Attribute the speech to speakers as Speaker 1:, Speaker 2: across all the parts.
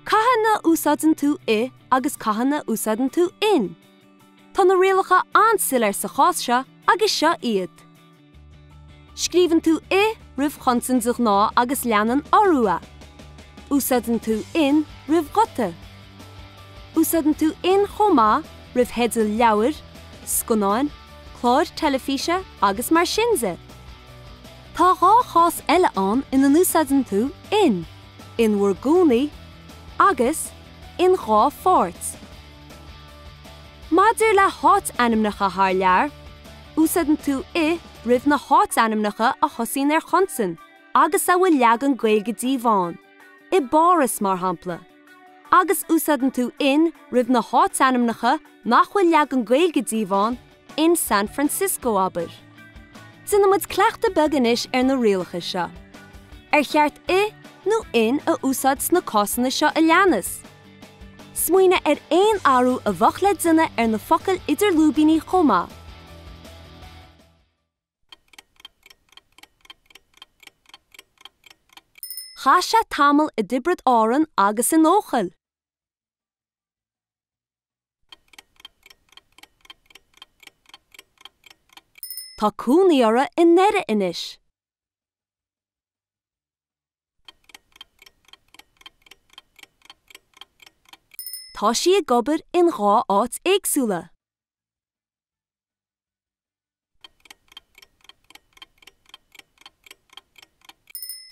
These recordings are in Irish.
Speaker 1: Cathain a úsáideann tú i agus cathain a úsáideann tú in? Tá na rialacha an-soiléir sa chás seo agus seo iad. Scríobhann tú i roimh chonsain de ghnáth agus leanann urú é. Úsáideann tú in roimh ghuta. Úsáideann tú in chomh maith roimh theidil leabhair, scannáin, cláir teilifíse agus mar sin de. Tá dhá chás eile ann ina n-úsáideann tú in, in bhur gcónaí, agus, in dhá pháirt. Maidir le háit-ainmneacha thar lear, Úsáideann tú i roimh na háitainmneacha a thosaíonn ar chonsain agus a bhfuil leagan Gaeilge díobh ann, i bPáras, mar shampla. Agus úsáideann tú in roimh na háitainmneacha nach bhfuil leagan Gaeilge díobh ann, in San Francisco, abair. Déanfaimid cleachtadh beag anois ar na rialacha seo. Ar cheart i nó in a úsáid sna cásanna seo a leanas? Smaoinigh ar aon athrú a bheadh le déanamh ar na focail idir lúibíní chomh maith. Chaith sé tamall i dTiobraid Árann agus in Eochaill. Tá cónaí orthu i nDoire anois. Tá sí ag obair in dhá áit éagsúla.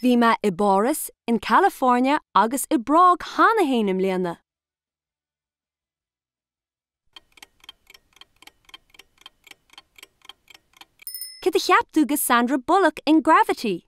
Speaker 1: Bhí mé i bPáras, in California agus i bPrág cheana fhéin i mbliana. Cad a cheap tú de Sandra Bullock in Gravity?